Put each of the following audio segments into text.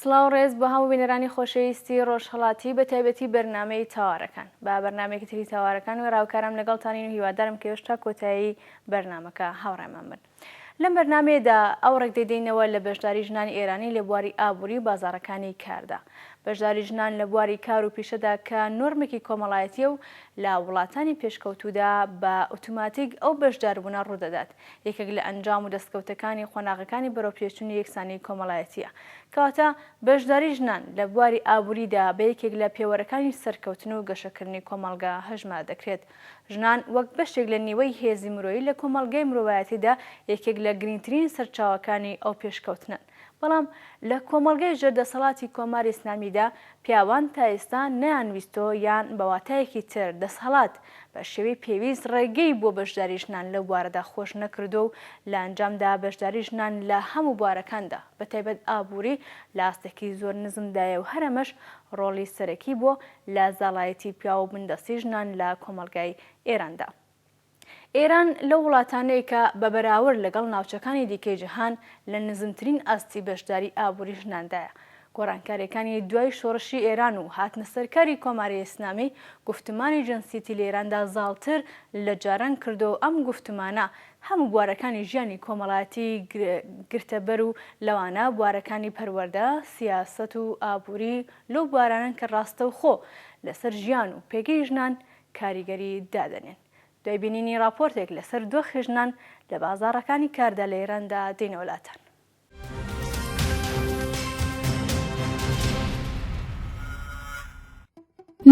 سڵاو ڕێز بۆ هەموو بینەرانی خۆشەویستی ڕۆژهەڵاتی بە تایبەتی بەرنامەی تاوارەکان با بەرنمێکی تری تاوارەکان وێڕاوکارم لەگەڵتانین و هیوادارم کە هێشتا کۆتایی بەرنمەکە هاوڕێمان بن لەم بەرنمەیەدا ئەو ڕێک دەدەینەوە لە بەشداری ژنانی ئێرانی لە بواری ئابووری و بازارەکانی کاردا بەشداری ژنان لە بواری کار و پیشەدا کە نۆرمێکی کۆمەڵایەتیە و لە وڵاتانی پێشکەوتودا بە ئۆتوماتیک ئەو بەشداربوونە ڕوودەدات یەکێک لە ئەنجام و دەستکەوتەکانی قۆناغەکانی بەرەوپێشچونی یەکسانیی کۆمەڵایەتییە. کەواتە بەشداریی ژنان لە بواری ئابووریدا بە یەکێک لە پێوەرەکانی سەرکەوتن و گەشەکردنی کۆمەڵگە هەژمار دەکرێت. ژنان وەک بەشێک لە نیوەی هێزی مرۆیی لە کۆمەڵگەی مرۆڤایەتیدا یەکێک لە گرینگترین سەرچاوەکانی ئەو پێشکەوتنەن. بەڵام لە کۆمەڵگای ژێر دەسەڵاتی کۆماری ئیسلامیدا پیاوان تا ئێستا نەیانویستۆ یان بە واتایەکی تر دەسهەڵات بە شێوەی پێویست ڕێگەی بۆ بەشداری ژنان لەو بوارەدا خۆش نەکردوە و لە ئەنجامدا بەشداری ژنان لە هەمو بوارەکاندا بە تایبەت ئابوری لە ئاستێکی زۆر نزمدایە و هەر ئەمەش ڕۆڵی سەرەکی بوە لە زاڵایەتی پیاو و بندەستی ژنان لە کۆمەڵگای ئێراندا. ئێران لەو وڵاتانەیە کە بە بەراورد لەگەڵ ناوچەکانی دیکەی جیهان لە نزمترین ئاستی بەشداری ئابووری ژناندایە. گۆڕانکارییەکانی دوای شۆڕشی ئێران و هاتنە سەرکاری کۆماری ئیسلامی، گوفتمانی جنسیەتی لە ئێراندا زاڵتر لە جاران کردووە و ئەم گوفتمانە هەموو بوارەکانی ژیانی کۆمەڵایەتی گرتە بەر و لەوانە بوارەکانی پەروەردە، سیاسەت و ئابووری لەو بوارانەن کە ڕاستەوخۆ لەسەر ژیان و پێگەی ژنان کاریگەری دادەنێن. دوای بینینی ڕاپۆرتێک لەسەر دۆخی ژنان لە بازاڕەکانی کاردا لە ئێراندا دێینە وەلاتان.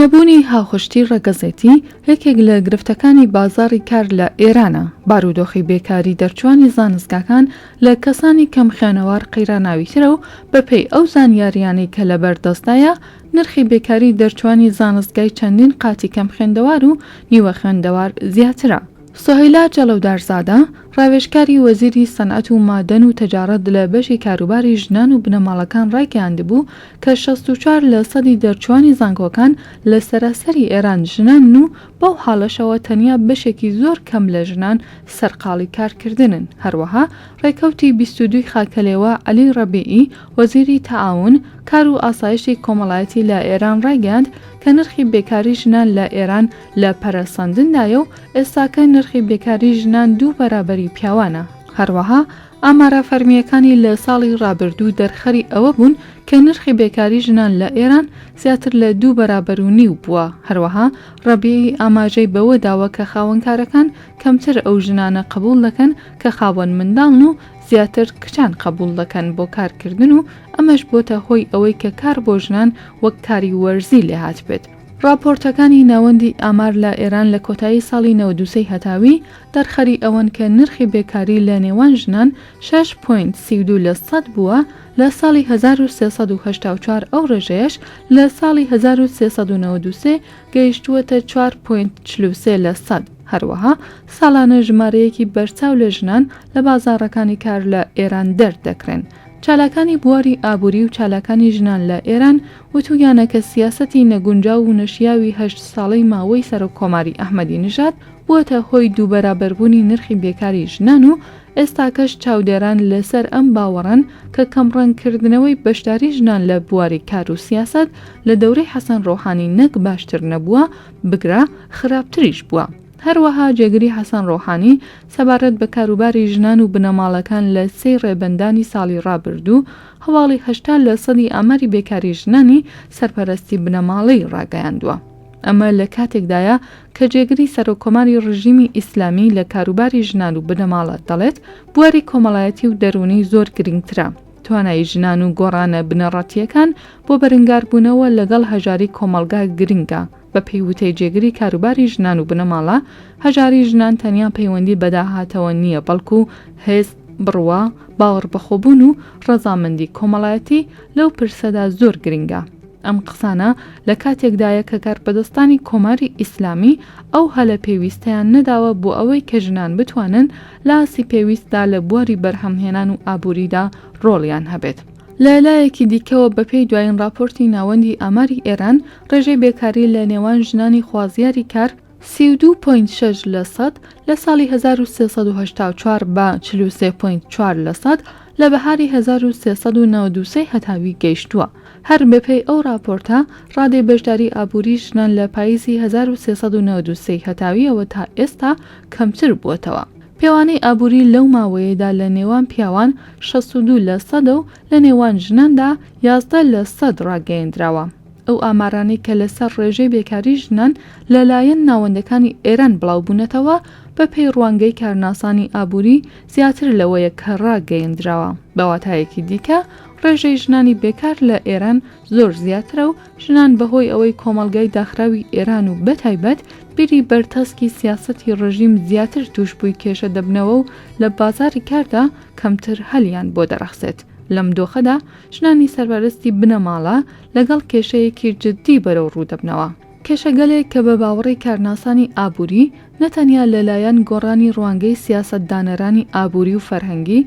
نەبوونی هاوخشتی ڕەگەزێتی یەکێک لە گرفتەکانی بازاڕی کار لە ئێرانە، بارودۆخی بێکاری دەرچووانی زانستگاکان لە کەسانی کەمخوێنەوار قەیراناویترە و بەپێی ئەو زانیارییانەی کە لەبەردەستدایە نرخی بێکاری دەرچووانی زانستگای چەندین قاتی کەمخوێندەوار و نیوە خوێندەوار زیاترە. سوهەیلا جەڵەودارزادە، ڕاوێژکاری وەزیری سەنعەت و مادەن و تەجاڕەت لە بەشی کاروباری ژنان و بنەماڵەکان ڕایگەیاندبوو کە شەست و چوار لە سەدی دەرچووانی زانکۆکان لە سەراسەری ئێران ژنانن و بەو حاڵەشەوە تەنیا بەشێکی زۆر کەم لە ژنان سەرقاڵی کارکردنن هەروەها ڕێکەوتی بیست و دووی خاکەلێوە عەلی ڕەبیعی وەزیری تەعاون، کار و ئاسایشی کۆمەڵایەتی لە ئێران ڕایگەیاند کە نرخی بێکاری ژنان لە ئێران لە پەرەسەندندایە و ئێستاکە نرخی بێکاری ژنان دوو بەرابەری پیاوانە. هەروەها ئامارە فەرمییەکانی لە ساڵی ڕابردوو دەرخەری ئەوە بوون کە نرخی بێکاری ژنان لە ئێران زیاتر لە دوو بەرابەر و نیو بووە. هەروەها ڕەبیعی ئاماژەی بەوە داوە کە خاوەنکارەکان کەمتر ئەو ژنانە قبوڵ دەکەن کە خاوەن منداڵن و زیاتر کچان قەبوڵ دەکەن بۆ کارکردن و ئەمەش بۆتە هۆی ئەوەی کە کار بۆ ژنان وەک کاری وەرزی لێهاتبێت. ڕاپۆرتەکانی ناوەندی ئامار لە ئێران لە کۆتایی ساڵی نەوەد و سێ هەتاوی دەرخەری ئەوەن کە نرخی بێکاری لە نێوان ژنان شەش پۆینت سی و دوو لە سەد بووە لە ساڵی هەزار و سێ سەد و هەشتا و چوار ئەو ڕێژەیەش لە ساڵی هەزار و سێ سەد و نەوەد و سێ گەیشتووەتە چوار پۆینت چل و سێ لە سەد، هەروەها ساڵانە ژمارەیەکی بەرچاو لە ژنان لە بازاڕەکانی کار لە ئێران دەر دەکرێن. چالاکانی بواری ئابووری و چالاکانی ژنان لە ئێران وتوویانە کە سیاسەتی نەگونجاو و نەشیاوی هەشت ساڵەی ماوەی سەرۆککۆماری ئەحمەدی نژاد بووەتە هۆی دووبەرابەربوونی نرخی بێکاری ژنان و ئێستاکەش چاودێران لەسەر ئەم باوەڕەن کە کەمڕەنگکردنەوەی بەشداری ژنان لە بواری کار و سیاسەت لە دەورەی حەسەن ڕۆحانی نەک باشتر نەبووە، بگرە خراپتریش بووە. هەروەها جێگری حەسەن ڕۆحانی سەبارەت بە کاروباری ژنان و بنەماڵەکان لە سێی ڕێبەندانی ساڵی ڕابردوو هەواڵی هەشتا لە سەدی ئاماری بێکاری ژنانی سەرپەرەستی بنەماڵەی ڕاگەیاندووە. ئەمە لە کاتێکدایە کە جێگری سەرۆککۆماری ڕژیمی ئیسلامی لە کاروباری ژنان و بنەماڵە، دەڵێت، بواری کۆمەڵایەتی و دەروونی زۆر گرنگترە، توانایی ژنان و گۆڕانە بنەڕەتییەکان بۆ بەرنگاربوونەوە لەگەڵ هەژاری کۆمەڵگا گرنگە، بەپێی وتەی جێگری کاروباری ژنان و بنەماڵە، هەژاری ژنان تەنیا پەیوەندی بە داهاتەوە نییە، بەڵکو هەست، بڕوا، باوەڕبەخۆبوون و ڕەزامەندی کۆمەڵایەتی لەو پرسەدا زۆر گرنگە. ئەم قسانە لە کاتێکدایە کە کارپەدەستانی کۆماری ئیسلامی ئەو هەلە پێویستەیان نەداوە بۆ ئەوەی کە ژنان بتوانن لە ئاستی پێویستدا لە بواری بەرهەمهێنان و ئابووریدا ڕۆڵیان هەبێت. لە لایەکی دیکەوە بەپێی دوایین ڕاپۆرتی ناوەندی ئاماری ئێران، ڕێژەی بێکاری لە نێوان ژنانی خوازیاری کار، سی و دوو پۆینت شەش لەسەد لە ساڵی هەزار و سێ سەد و هەشتا و چوار بە چل و سێ پۆینت چوار لەسەد لە بەهاری هەزار و سێ سەد و نەوەد و سێ ی هەتاوی گەیشتووە. هەر بەپێی ئەو ڕاپۆرتە، ڕادەی بەشداری ئابووری ژنان لە پاییزی هەزار و سێ سەد و نەوەد و سێ ی هەتاوییەوە تا ئێستا کەمتر بووەتەوە. پێوانەی ئابووری لەو ماوەیەدا لە نێوان پیاوان شەست و دوو لەسەدە و لە نێوان ژناندا یازدە لە سەد ڕاگەیەندراوە، ئەو ئامارانەی کە لەسەر ڕێژەی بێکاری ژنان لەلایەن ناوەندەکانی ئێران بڵاوبوونەتەوە، بەپێی ڕوانگەی کارناسانی ئابووری زیاتر لەوەیە کە ڕاگەیەندراوە، بە واتایەکی دیکە ڕێژەی ژنانی بێکار لە ئێران زۆر زیاترە و ژنان بەهۆی ئەوەی کۆمەڵگای داخراوی ئێران و بەتایبەت بیری بەرتەسکی سیاسەتی ڕژیم زیاتر تووشبووی کێشە دەبنەوە و لە بازاڕی کاردا کەمتر هەلیان بۆ دەڕەخسێت، لەم دۆخەدا ژنانی سەربەرزتی بنەماڵە لەگەڵ کێشەیەکی جددی بەرەو ڕوو دەبنەوە، کێشەگەلێک کە بە باوەڕی کارناسانی ئابووری نەتەنیا لەلایەن گۆڕانی ڕوانگەی سیاسەتدانەرانی ئابووری و فەرهەنگی،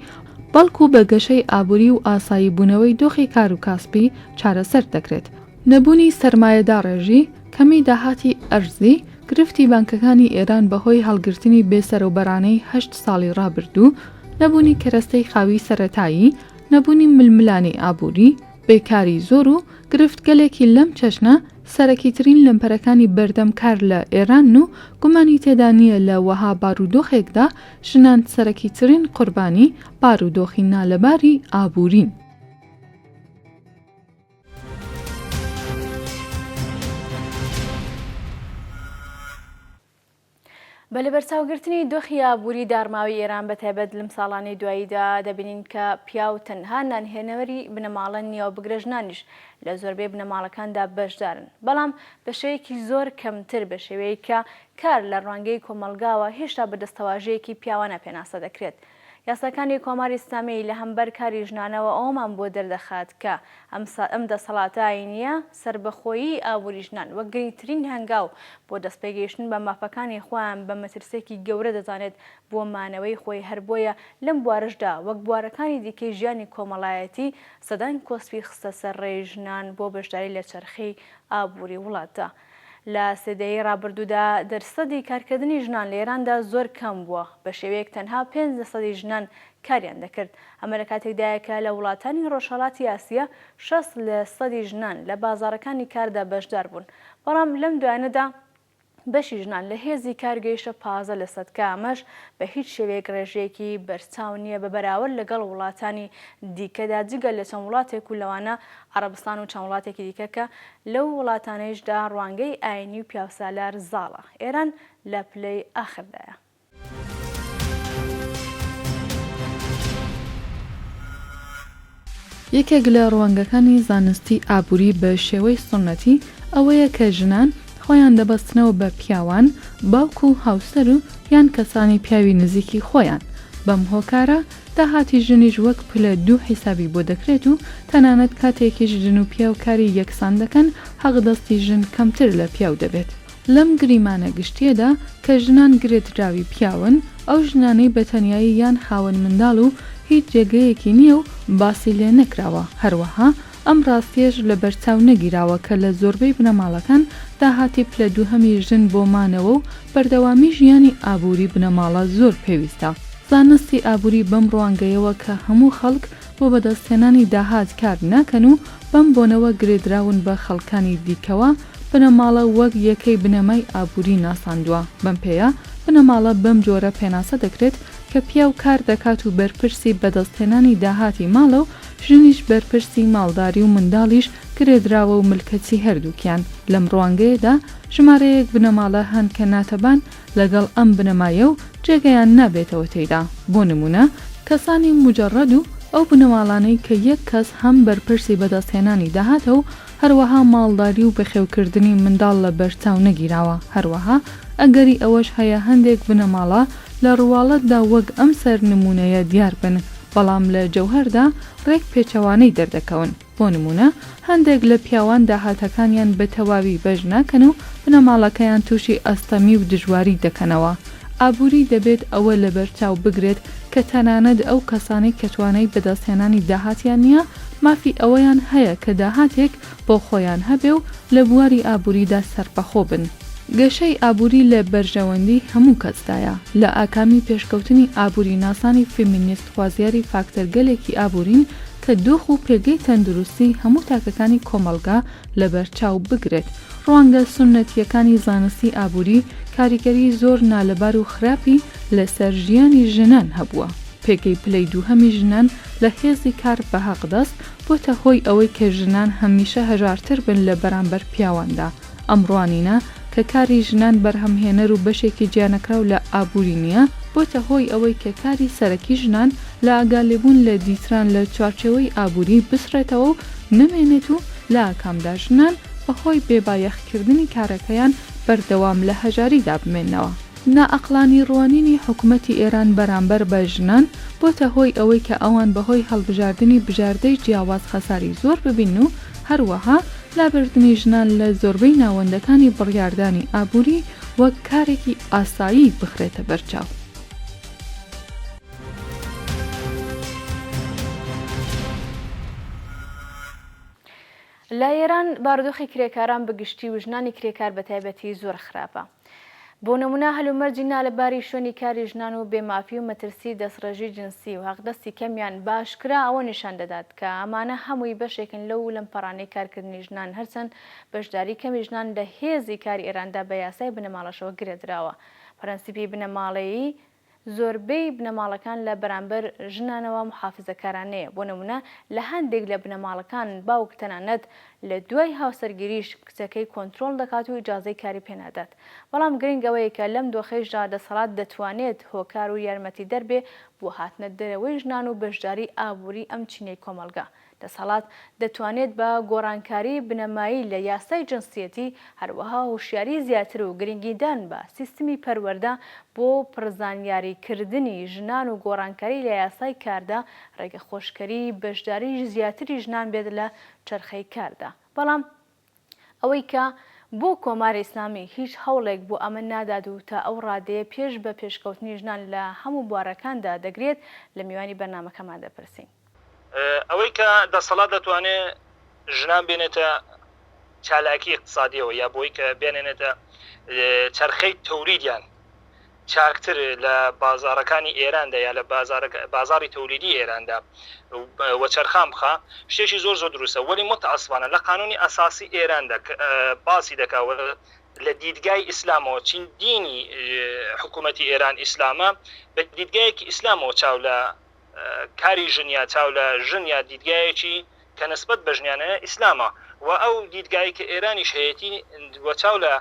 بەڵکو بە گەشەی ئابووری و ئاساییبوونەوەی دۆخی کار و کاسپی چارەسەر دەکرێت، نەبوونی سەرمایەداڕێژی، کەمی داهاتی ئەرزی، گرفتی بانکەکانی ئێران بەهۆی هەڵگرتنی بێسەرەوبەرانەی هەشت ساڵی ڕابردوو، نەبوونی کەرەستەی خاوی سەرەتایی، نەبوونی ململانێی ئابووری، بێکاری زۆر و گرفتگەلێکی لەم چەشنە، سەرەکیترین لەمپەرەکانی بەردەم کار لە ئێرانن و گومانی تێدا نییە لە وەها بارودۆخێکدا ژنان سەرەکیترین قوربانی بارودۆخی نالەباری ئابوورین. بە لەبەرچاوگرتنی دۆخی ئابووری داڕماوی ئێران بە تایبەت لەم ساڵانەی دواییدا دەبینین کە پیاو تەنها نانهێنەوەری بنەماڵە نییەوە بگرە ژنانیش لە زۆربەی بنەماڵەکاندا بەشدارن بەڵام بە شێوەیەکی زۆر کەمتر بە شێوەیەکە کار لە ڕوانگەی کۆمەڵگاوە هێشتا بە دەستەواژەیەکی پیاوانە پێناسە دەکرێت یاساکانی کۆماری ئیسلامی لە هەمبەر کاری ژنانەوە ئەوەمان بۆ دەردەخات کە ئەم دەسەڵاتە ئایینییە سەربەخۆیی ئابووری ژنان وەک گرینگترین هەنگاو بۆ دەستپێگەیشتن بە مافەکانی خۆیان بە مەترسییەکی گەورە دەزانێت بۆ مانەوەی خۆی هەر بۆیە لەم بوارەشدا وەک بوارەکانی دیکەی ژیانی کۆمەڵایەتی سەدان کۆسپی خستە سەر ڕێی ژنان بۆ بەشداری لە چەرخی ئابووری وڵاتدا. لە سێ دەیەی ڕابردوودا دەرسەدی کارکردنی ژنان لە ئێراندا زۆر کەم بووە، بە شێوەیەک تەنها پێنج لەسەدی ژنان کاریان دەکرد. ئەمە لە کاتێکدایە کە لە وڵاتانی ڕۆژهەڵاتی ئاسیا شەست لەسەدی ژنان لە بازاڕەکانی کاردا بەشدار بوون، بەڵام لەم دوایانەدا بەشی ژنان لە هێزی کار گەیشتە پازدە لەسەد کە ئەمەش بە هیچ شێوەیەک ڕێژەیەکی بەرچاو نییە بە بەراورد لەگەڵ وڵاتانی دیکەدا جگە لە چەند وڵاتێک و لەوانە عەڕەبستان و چەند وڵاتێکی دیکە کە لەو وڵاتانەیشدا ڕوانگەی ئاینی و پیاوسالار زاڵە. ئێران لە پلەی ئاخردایە. یەکێک لە ڕوانگەکانی زانستی ئابووری بە شێوەی سوننەتی ئەوەیە کە ژنان خۆیان دەبەستنەوە بە پیاوان، باوک و هاوسەر و یان کەسانی پیاوی نزیکی خۆیان، بەم هۆکارە، داهاتی ژنیش وەک پلە دوو حیسابی بۆ دەکرێت و تەنانەت کاتێکیش ژن و پیاو کاری یەکسان دەکەن حەقدەستی ژن کەمتر لە پیاو دەبێت. لەم گریمانە گشتییەدا کە ژنان گرێدراوی پیاون، ئەو ژنانەی بە تەنیایی یان خاوەن منداڵ و هیچ جێگەیەکی نییە و باسی لێ نەکراوە، هەروەها ئەم ڕاستیەش لەبەرچاو نەگیراوە کە لە زۆربەی بنەماڵەکان داهاتی پلە دووهەمی ژن بۆ مانەوە و بەردەوامی ژیانی ئابووری بنەماڵە زۆر پێویستە. زانستی ئابووری بەم ڕوانگەیەوە کە هەموو خەڵک بۆ بەدەستهێنانی داهات کار ناکەن و بەم بۆنەوە گرێدراون بە خەڵکانی دیکەوە، بنەماڵە وەک یەکەی بنەمای ئابووری ناساندووە، بەم پێیە بنەماڵە بەم جۆرە پێناسە دەکرێت کە پیاو کار دەکات و بەرپرسی بەدەستهێنانی داهاتی ماڵە و ژنیش بەرپرسی ماڵداری و منداڵیش گرێدراوە و ملکەچی هەردووکیان. لەم ڕوانگەیەدا ژمارەیەک بنەماڵە هەن کە ناتەبان لەگەڵ ئەم بنەمایە و جێگەیان نابێتەوە تێیدا، بۆ نموونە، کەسانی موجەڕەد و ئەو بنەماڵانەی کە یەک کەس هەم بەرپرسی بەدەستهێنانی داهاتە و هەروەها ماڵداری و بەخێوکردنی منداڵ لەبەرچاو نەگیراوە، هەروەها ئەگەری ئەوەش هەیە هەندێک بنەماڵە لە ڕواڵەتدا وەک ئەم سەر نموونەیە دیار بن. بەڵام لە جەوهەردا ڕێک پێچەوانەی دەردەکەون، بۆ نموونە هەندێک لە پیاوان داهاتەکانیان بە تەواوی بەش ناکەن و بنەماڵەکەیان تووشی ئەستەمی و دژواری دەکەنەوە، ئابووری دەبێت ئەوە لەبەرچاو بگرێت کە تەنانەت ئەو کەسانەی کە توانای بەدەستهێنانی داهاتیان نییە مافی ئەوەیان هەیە کە داهاتێک بۆ خۆیان هەبێ و لە بواری ئابووریدا سەربەخۆ بن. گەشەی ئابووری لە بەرژەوەندیی هەموو کەسدایە. لە ئاکامی پێشکەوتنی ئابووریناسانی فێمینیست خوازیاری فاکتەرگەلێکی ئابوورین کە دۆخ و پێگەی تەندروستیی هەموو تاکەکانی کۆمەڵگا لەبەرچاو بگرێت. ڕوانگە سوننەتییەکانی زانستی ئابووری کاریگەریی زۆر نالەبار و خراپی لەسەر ژیانی ژنان هەبووە. پێگەی پلەی دووهەمی ژنان لە هێزی کار بە هەقدەست بۆتە هۆی ئەوەی کە ژنان هەمیشە هەژارتر بن لە بەرامبەر پیاواندا، ئەم ڕوانینە کە کاری ژنان بەرهەمهێنەر و بەشێکی جیانەکراو لە ئابووری نییە، بۆتە هۆی ئەوەی کە کاری سەرەکی ژنان لە ئاگالێبوون لە دیتران لە چوارچێوەی ئابووری بسڕێتەوە و نەمێنێت و لە ئاکامدا ژنان بەهۆی بێبایەخکردنی کارەکەیان بەردەوام لە هەژاریدا بمێنەوە. نائەقڵانی ڕوانینی حکومەتی ئێران بەرامبەر بە ژنان بۆتە هۆی ئەوەی کە ئەوان بەهۆی هەڵبژاردنی بژاردەی جیاواز خەساری زۆر ببینن و هەروەها لابردنی ژنان لە زۆربەی ناوەندەکانی بڕیاردانی ئابووری وەک کارێکی ئاسایی بخرێتە بەرچاو. لە ئێران بارودۆخی کرێکاران بە گشتی و ژنانی کرێکار بە تایبەتی زۆر خراپە. بۆ نمونە هەلومەرجی نالەباری شوێنی کاری ژنان و بێمافی و مەترسی دەستڕێژی جنسی و هەقدەستی کەمیان بە ئاشکرا ئەوە نیشان دەدات کە ئەمانە هەمووی بەشێکن لەو لەمپەرانەی کارکردنی ژنان هەرچەند بەشداری کەمی ژنان لە هێزی کاری ئێراندا بە یاسای بنەماڵەشەوە گرێدراوە پرەنسیپی بنەماڵەیی زۆربەی بنەماڵەکان لە بەرامبەر ژنانەوە موحافزەکارانەیە، بۆ نمونە لە هەندێک لە بنەماڵەکان باوک تەنانەت لە دوای هاوسەرگیریش کچەکەی کۆنترۆڵ دەکات و ئیجازەی کاری پێنادات، بەڵام گرنگ ئەوەیە کە لەم دۆخەیشدا دەسەڵات دەتوانێت هۆکار و یارمەتیدەر بێ بۆ هاتنە دەرەوەی ژنان و بەشداری ئابوری ئەم چینەی کۆمەڵگا دەسەڵات دەتوانێت بە گۆڕانکاری بنەمایی لە یاسای جنسیەتی، هەروەها هۆشیاری زیاتر و گرنگیدان بە سیستمی پەروەردە بۆ پڕزانیاریکردنی ژنان و گۆڕانکاری لە یاسای کاردا، ڕێگەخۆشکەری بەشداریی زیاتری ژنان بێت لە چەرخەی کاردا. بەڵام ئەوەی کە بۆ کۆماری ئیسلامی هیچ هەوڵێک بۆ ئەمە نادات و تا ئەو ڕادەیە پێش بە پێشکەوتنی ژنان لە هەموو بوارەکاندا دەگرێت، لە میوانی بەرنامەکەمان دەپرسین. ئەوەی کە دەسەڵات دەتوانێت ژنان بێنێتە چالاکی ئیقتسادییەوە یا بۆی کە بیانێنێتە چەرخەی تەوریدیان چاکتر لە بازاڕەکانی ئێراندا یا لە بازاڕی تەولیدی ئێراندا وەچەرخان بخا شتێکی زۆر زۆر دروستە وەلی متاسفانە لە قانونی ئەساسی ئێراندا باسی دەکا لە دیدگای ئیسلامەوە چین دینی حکوومەتی ئێران ئیسلامە بە دیدگایەکی ئیسلامەوە چاو لە کاری ژنیا چاو لە ژنیا دیدگایەکی کە نسبت بە ژنیانە ئیسلامە و ئەو دیدگای کە ئێرانیش هەیەتی وەچاو لە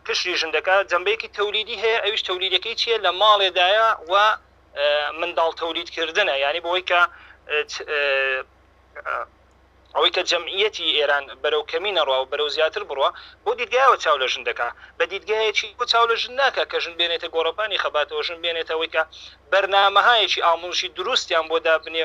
قشری ژن دەکات جەمبەیەکی تەولیدی هەیە ئەویش تەولیدەکەی چیە لە ماڵێدایە و منداڵ تەولید کردنە یعنی بەوەی کە ئەوەی کە جەمعیەتی ئێران بەرەو کەمی نەڕوا و بەرەو زیاتر بڕە بۆ دیدگایەوە چاو لە ژن دەکا بە دیدگایەکی بۆ چاو لە ژن ناکە کە ژن بێنێتە گۆڕەپانی خەباتەوە ژن بێنێتەوەی کە بەرنمەهایەکی ئامۆژی دروستیان بۆ دابنێ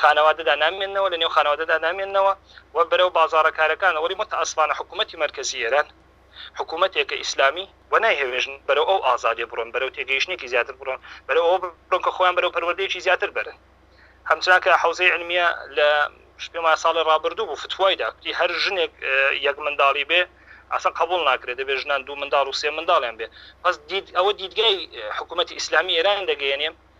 خانەوادەدا نامێنەوە لە نێو خانەوادەدا نامێنەوە و بەرەو بازارە کارەکان وەڵی متەئەسفانە حکوومەتتی مەرکزی ئێران حکوومەتێکە ئیسلامی و نایهێژن بەرەو ئەو ئازادێ بڕۆن بەرەو تێگەیشتێکی زیاتر بڕۆن بەرە ئەو بڕۆکە خۆیان بەرەو پەروەردەیەکی زیاتر بەرن هەمچناکە حوزەی علمیە لە شپێما ساڵی ڕابردوو بوو فتوای داکتی هەر ژنێک یەک منداڵی بێ ئاسان قبول ناکرێت دەبێت ژنان دوو منداڵ و سێ منداڵیان بێ پس دید ئەوە دیدگای حکوومەتتی ئیسلامی ئێران دەگەیەنێ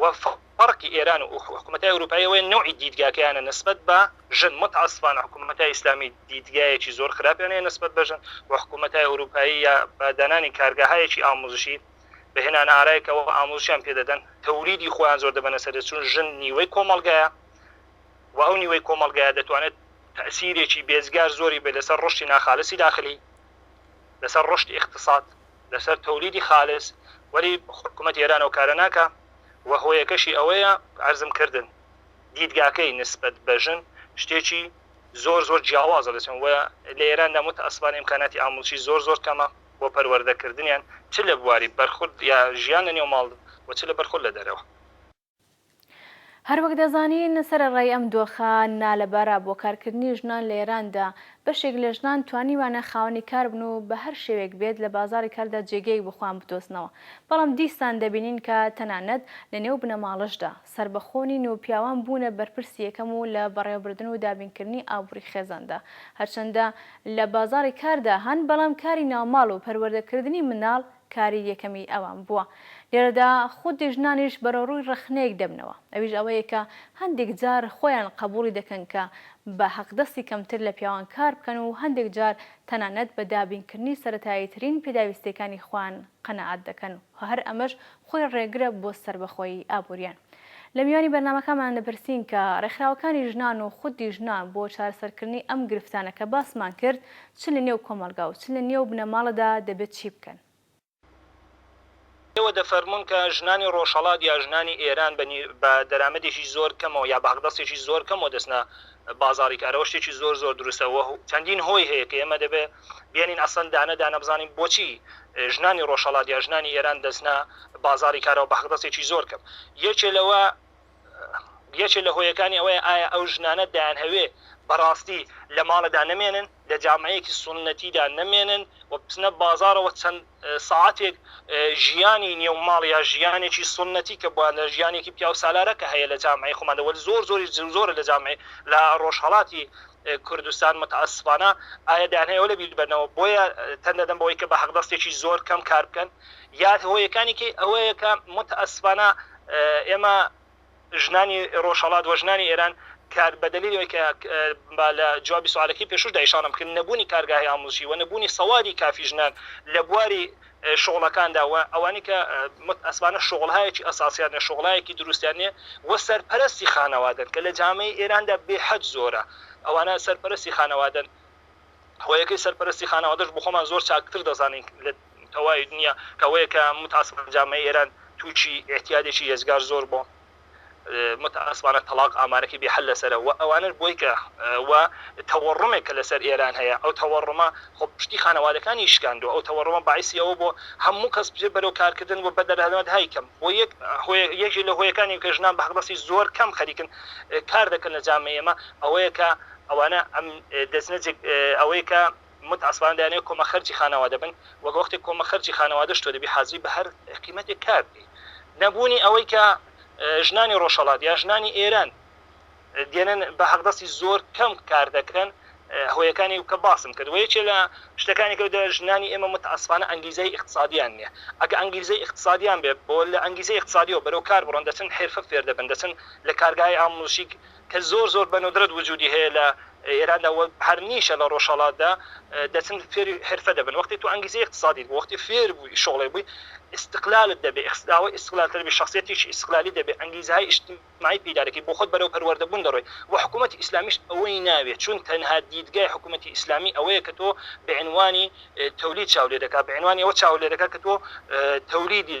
و فەرقی ئێران و حکومەتای ئەوروپایی ئەوەیە نەوعی دیدگاکەیانە نسبەت بە ژن موتەئەسفانە حکومەتای ئیسلامی دیدگایەکی زۆر خراپیان هەیە نسبەت بە ژن و حکومەتای ئەوروپایی یا بە دانانی کارگەهایەکی ئاموزشی بە هێنانە ئارایەکەوە ئاموزشیان پێ دەدەن تەوریدی خۆیان زۆر دەبەنە سەر چون ژن نیوەی کۆمەڵگایە و ئەو نیوەی کۆمەڵگایە دەتوانێت تەسیرێکی بێزگار زۆری بێ لەسەر ڕشتی ناخالسی داخلی لەسەر ڕشت اقتصاد لەسەر تەولیدی خالس وەلی حکومەت ئێران ئەو کارە ناکا و هۆیەکەشی ئەوەیە عەرزم کردن دیدگاکەی نسبەت بە ژن شتێکی زۆر زۆر جیاوازە لە چەند وە لە ئێراندا متەئەسفانە ئیمکاناتی ئامڵچی زۆر زۆر کەمە بۆ پەروەردەکردنیان چ لە بواری بەرخود یا ژیان لە نێو ماڵ و چ لە بەرخود لە دەرەوە. هەروەک دەزانین سەرەڕای ئەم دۆخە نالەبارە بۆ کارکردنی ژنان لە ئێراندا، بەشێک لە ژنان توانیویانە خاوەنی کار بن و بە هەر شێوەیەک بێت لە بازاڕی کاردا جێگەیەک بۆ خۆیان بدۆزنەوە، بەڵام دیسان دەبینین کە تەنانەت لە نێو بنەماڵەشدا سەربەخۆ نین و پیاوان بوونە بەرپرسی یەکەم و لە بەڕێوەبردن و دابینکردنی ئابووری خێزاندا هەرچەندە لە بازاڕی کاردا هەن بەڵام کاری ناوماڵ و پەروەردەکردنی منداڵ کاری یەکەمی ئەوان بووە. لێرەدا خودی ژنانیش بەرەوڕووی ڕەخنەیەک دەبنەوە، ئەویش ئەوەیە کە هەندێک جار خۆیان قەبووڵی دەکەن کە بە هەقدەستی کەمتر لە پیاوان کار بکەن و هەندێک جار تەنانەت بە دابینکردنی سەرەتاییترین پێداویستییەکانی خۆیان قەناعەت دەکەن و هەر ئەمەش خۆی ڕێگرە بۆ سەربەخۆیی ئابوورییان. لە میوانی بەرنامەکانمان دەپرسین کە ڕێکخراوەکانی ژنان و خودی ژنان بۆ چارەسەرکردنی ئەم گرفتانە کە باسمان کرد چ لە نێو کۆمەڵگا و چ لە نێو بنەماڵەدا دەبێت چی بکەن؟ ئێوە دەفەرموون کە ژنانی ڕۆژهەڵات یا ژنانی ئێران بە نی بە دەرامەدێکی زۆر کەمەوە یا بە هەقدەسێکی زۆر کەمەوە دەچنە بازاڕی کارەوە شتێکی زۆر زۆر دروستە و چەندین هۆی هەیە کە ئێمە دەبێ بێنین ئەسڵەن دانە دانە بزانین بۆچی ژنانی ڕۆژهەڵات یا ژنانی ئێران دەچنە بازاڕی کارەوە بە حەقدەسێکی زۆر کەم یەکێ لەوە یەکێ لە هۆیەکانی ئەوەیە ئایا ئەو ژنانە دایانهەوێ بەڕاستی لە ماڵەدا نەمێنن لە جامعەیەکی سوننەتیدا نەمێنن و بچنە بازاڕەوە چەند ساعەتێک ژیانی نێو ماڵ یا ژیانێکی سوننەتی کە بووە لە ژیانێکی پیاوسالارە کە هەیە لە جامعەی خۆماندا وەلی زۆر زۆریش زۆرە لە جامعەی لە ڕۆژهەڵاتی کوردستان متاسفانە ئایا دەیان هەیە ئەوە لە بیر بەنەوە بۆیە تەن دەدەن بەوەی کە بە هەقدەستێکی زۆر کەم کار بکەن یا هۆیەکانێکی ئەوەیە کە متاسفانە ئێمە ژنانی ڕۆژهەڵات و ژنانی ئێران کە بە دەلیلی ئەوەی کە با لە جوابی سواڵەکەی پێشووشدا ئیشاڕەم بکرد نەبوونی کارگاهی ئامووزشی و نەبوونی سەوادی کافی ژنان لە بواری شوغڵەکاندا و ئەوانی کە متئەسفانە شوغڵهایەکی ئەساسیان نیە شوغڵایەکی دروستیان نیە و سەرپەرەستی خانەوادەن کە لە جامەی ئێراندا بێحەد زۆرە ئەوانە سەرپەرەستی خانەوادەن هۆیەکەی سەرپەرستی خانەوادەش بۆخۆمان زۆر چاکتر دەزانین لە تەواوی دنیا کەوەیە کە متاسفانە جامعەی ئێران تووشی اعتیادێکی یەجگار زۆر بۆ متاسفانە تەلاق ئامارەکەی بێحل لەسەرە و ئەوانش بۆی کە و تەوەڕمێک کە لەسەر ئێران هەیە ئەو تەوەڕمە خۆ پشتی خانەوادەکانی شکاندوە ئەو تەوەڕمە باعسی ئەوە بۆ هەموو کەس بچێت بەرەو کارکردن و بەدەرهەنەوەت های کەم بۆ یەک یەکێ لە هۆیەکانی کە ژنان بە حەقدەستی زۆر کەم خەریکن کار دەکەن لە جامعەی ئێمە ئەوەیە کە ئەوانە ئەم دەچنە جێ ئەوەی کە مت عەسبان دەیانەوێت کۆمە خەرجی خانەوادە بن وەک وەختێک کۆمە خەرجی خانەوادەش تۆ دەبی حازری بە هەر قیمەتێک کار بکەی نەبوونی ئەوەی کە ژنانی ڕۆژهەڵات یا ژنانی ئێران دێنن بە حەقدەستی زۆر کەم کار دەکەن هۆیەکانی کە باسم کرد وە یەکێ لە شتەکانی کە دە ژنانی ئێمە متعەسفانە ئەنگیزەی ئیقتصادیان نییە ئەگە ئەنگیزەی ئیقتصادیان بێ بۆ لە ئەنگیزەی ئیقتصادیەوە بەرەو کار بڕۆن دەچن حرفە فێر دەبن دەچن لە کارگای ئاموزشی کە زۆر زۆر بە ندرەت وجودی هەیە لە ئێراندا و هەر نیشە لە ڕۆژهەڵاتدا دەچن فێری حرفە دەبن وەختی تۆ ئەنگیزەی ئیقتسادیت بوو وەختی فێر بووی شۆڵێ بووی ئیستقلالت دەبێ ئاوەی ئیستقلال تر بی شەخسیەتیش ئیستقلالی دەبێ ئەنگیزەهای ئیشتیمایی پەیدا دەکەی بۆ خۆت بەرەو پەروەردە بوون دەڕۆی و حکوومەتی ئیسلامیش ئەوەی ناوێ چون تەنها دیدگای حکوومەتی ئیسلامی ئەوەیە کە تۆ بە عینوانی تەولید چاو لێ دەکا بە عینوانی ئەوە چاو لێ دەکا کە تۆ تەولیدی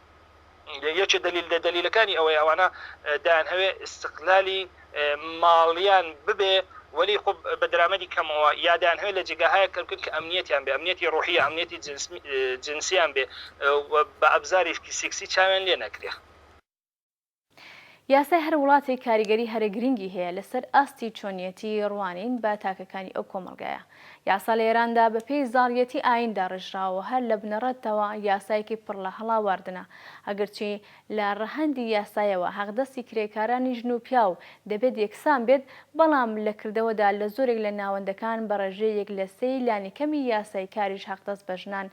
یەکێ دەلیل لە دەلیلەکانی ئەوەیە ئەوانە دەیانهەوێ ئیستقلالی ماڵیان ببێ وەلی خۆ بە درامەدی کەمەوە یا دەیانهەوێ لە جێگاهایەک کە بکەن کە ئەمنیەتیان بێ ئەمنیەتی ڕۆحی یا ئەمنیەتی جنسیان بێ و بە ئەبزاریشکی سیکسی چاویان لێ نەکرێ. یاسای هەر وڵاتێک کاریگەری هەرە گرنگی هەیە لەسەر ئاستی چۆنیەتی ڕوانین بە تاکەکانی ئەو کۆمەڵگایە. یاسا لە ئێراندا بە پێی زاڵیەتی ئایین داڕێژراوە و هەر لە بنەڕەتەوە یاسایەکی پڕ لە هەڵاواردنە. ئەگەرچی لە ڕەهەندی یاسایەوە حەقدەستی کرێکارانی ژن و پیاو دەبێت یەکسان بێت، بەڵام لە کردەوەدا لە زۆرێک لە ناوەندەکان بە ڕێژەی یەک لە سێی لانیکەمی یاسای کاریش حەقدەست بە ژنان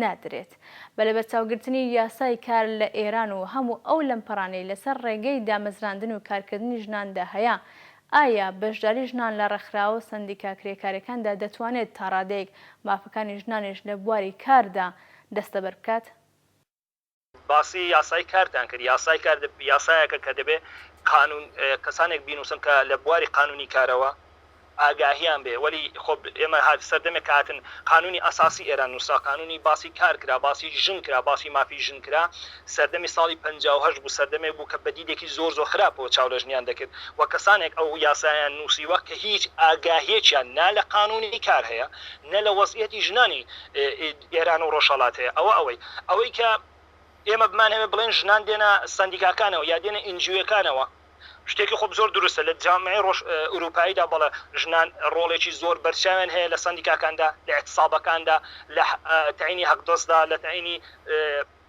نادرێت. بە لەبەرچاوگرتنی یاسای کار لە ئێران و هەموو ئەو لەمپەرانەی لەسەر ڕێگەی دامەزراندن و کارکردنی ژناندا هەیە، ئایا بەشداری ژنان لە ڕێکخراوە سەندیکا کرێکارەکاندا دەتوانێت تا ڕادەیەک مافەکانی ژنانیش لە بواری کاردا دەستەبەر بکات؟ باسی یاسای کارتان کرد، یاسای کار یاسایەکە کە دەبێت قانون کەسانێک بینووسن کە لە بواری قانونی کارەوە ئاگاهیان بێ وەلی خۆ ئێمە هات سەردەمێک کە هاتن قانونی ئەساسی ئێران نووسرا قانونی باسی کار کرا باسی ژن کرا باسی مافی ژن کرا سەردەمی ساڵی پەنجا و هەشت بوو سەردەمێک بوو کە بە دیدێکی زۆر زۆر خراپەوە چاو لە ژنیان دەکرد و کەسانێک ئەو یاسایان نووسیوە کە هیچ ئاگاهیەکیان نا لە قانونی کار هەیە نە لە وەزعیەتی ژنانی ئێران و ڕۆژهەڵات هەیە ئەوە ئەوەی ئەوەی کە ئێمە بمانهەوێ بڵێن ژنان دێنە سەندیکاکانەوە یا دێنە ئینجیوەکانەوە شتێکی خۆ زۆر دروستە لە جامعەی ڕۆژ ئورووپاییدا بەڵێ ژنان ڕۆڵێکی زۆر بەرچاویان هەیە لە سەندیکاکاندا لە ئێتسابەکاندا لە تەینی هەقدۆستدا لە تەینی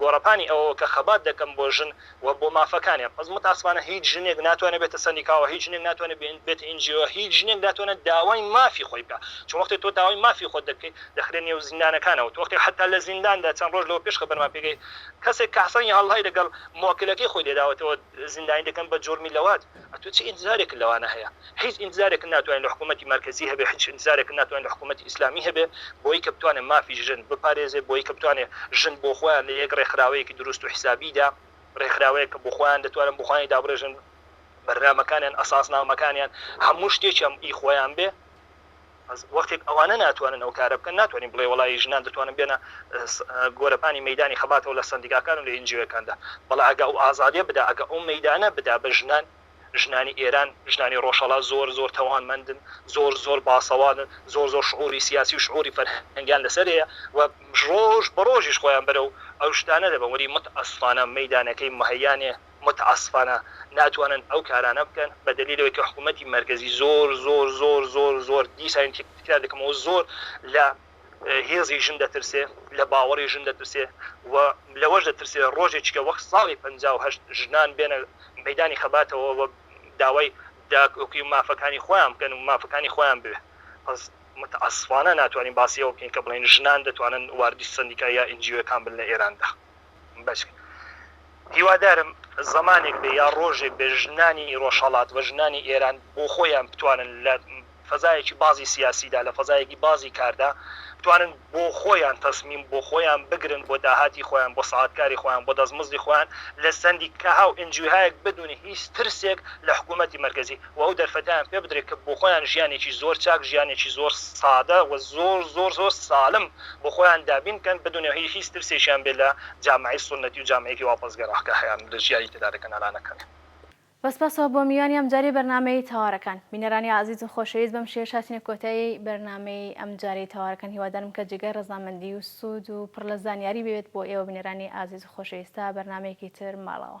گۆڕەپانی ئەوەوە کە خەبات دەکەم بۆ ژن و بۆ مافەکانیان، بەس متاسفانە هیچ ژنێک ناتوانێت بێتە سەندیکاوە، هیچ ژنێک ناتوانێت بێتە ئین جی ئۆ، هیچ ژنێک ناتوانێت داوای مافی خۆی بکات، چون وەختێک تۆ داوای مافی خۆت دەکەیت دەخرێت نێو زیندانەکانەوە، تۆ وەختێک حەتا لە زینداندا چەند ڕۆژ لەوە پێش خبرمان پێگەی کەسێک کە حەسەن یەهەڵلای لەگەڵ مۆکلەکەی خۆی لێداوەتەوە، زیندانی دەکەن بە جوڕمی لەواج ئەتو چ ئینتزارێکت لەوانە هەیە هیچ ئینتزارێکت ناتوانی لە حکومەتی مەرکەزی هەبێ هیچ ئینتزارێکت ناتوانی لە حکومەتی ئیسلامی هەبێ بۆی کە بتوانێ مافی ژن بپارێزێ بۆی کە بتوانێ ژن بۆ خۆیان لە یەک ڕێکخراوەیەکی دروست و حیسابی دا ڕێکخراوەیەک کە بۆ خۆیان دەتوانن بۆ خۆیانی دابڕێژن بەرنامەکانیان ئەساسنامەکانیان هەموو شتێکیان ئی خۆیان بێ. بەس وەختێک ئەوانە ناتوانن ئەو کارە بکەن ناتوانین بڵێ وەڵا ی ژنان دەتوانن بێنە گۆرەپانی مەیدانی خەباتەوە لە سەندیکاکان و لە ئینجیوەکاندا بەڵا ئەگە ئەو ئازادیە بدا ئەگە ئەو مەیدانە بدا بە ژنان ژنانی ئێران ژنانی ڕۆژهەڵات زۆر زۆر تەوانمەندن زۆر زۆر باسەوادن زۆر زۆر شعوری سیاسی و شعوری فەرهەنگیان لەسەر هەیە و ڕۆژ بە ڕۆژیش خۆیان بەرەو ئەو شتانە دەبەن وەلی متئەسفانە مەیدانەکەی مهەیا نیە متاسفانە ناتوانن ئەو کارانە بکەن بە دەلیل ئەوەی کە حکوومەتی مەرکەزی زۆر زۆر زۆر زۆر زۆر دیسان تکرار دەکەمەوە زۆر لە هێزی ژن دەترسێ لە باوەڕی ژن دەترسێ و لەوەش دەترسێ ڕۆژێکیکە وەک ساڵی پەنجا و هەشت ژنان بێنە مەدانی خەباتەوە و داوای داکۆکی و مافەکانی خۆیان بکەن و مافەکانی خۆیان بوێ بەس متاسفانە ناتوانین باسی ئەوە بکەین کە بڵێین ژنان دەتوانن واردی سەندیکا یا ئێن جی ئۆکان بن لە ئێراندا. بەچک هیوادارم زەمانێک بێ یا ڕۆژێک بێ ژنانی ڕۆژهەڵات و ژنانی ئێران بۆ خۆیان بتوانن لە فەزایەکی بازی سیاسیدا لە فەزایەکی بازی کاردا بتوانن بۆ خۆیان تەسمیم بۆ خۆیان بگرن بۆ داهاتی خۆیان بۆ ساعاتکاری خۆیان بۆ دەستمزدی خۆیان لە سندی کەها و ئنجوهایەک بدونی هیچ ترسێک لە حکوومەتی مەرکزی و ئەو دەرفەتیان پێ بدرێت کە بۆ خۆیان ژیانێکی زۆر چاک ژیانێکی زۆر سادە و زۆر زۆر زۆر سالم بۆ خۆیان دابین بکەن بدونێ هی هیچ ترسێکیان بێ لە جامعەی سونەتی و جامعەیەکی واپەرسگەرا کە هەیان لە ژیاری تێدا دەکەن ئەلانەکەن. بە سپاسەوە بۆ میوانی ئەمجارەی بەرنامەی تەوارەکان. بینەرانی ئازیز و خۆشەویست بەم شێوەش هاتینە کۆتایی بەرنامەی ئەمجارەی تەوارەکان هیوادارم کە جێگای ڕەزامەندی و سوود و پڕ لە زانیاری بێت بۆ ئێوە بینەرانی ئازیز و خۆشەویست تا بەرنامەیەکی تر ماڵەوە.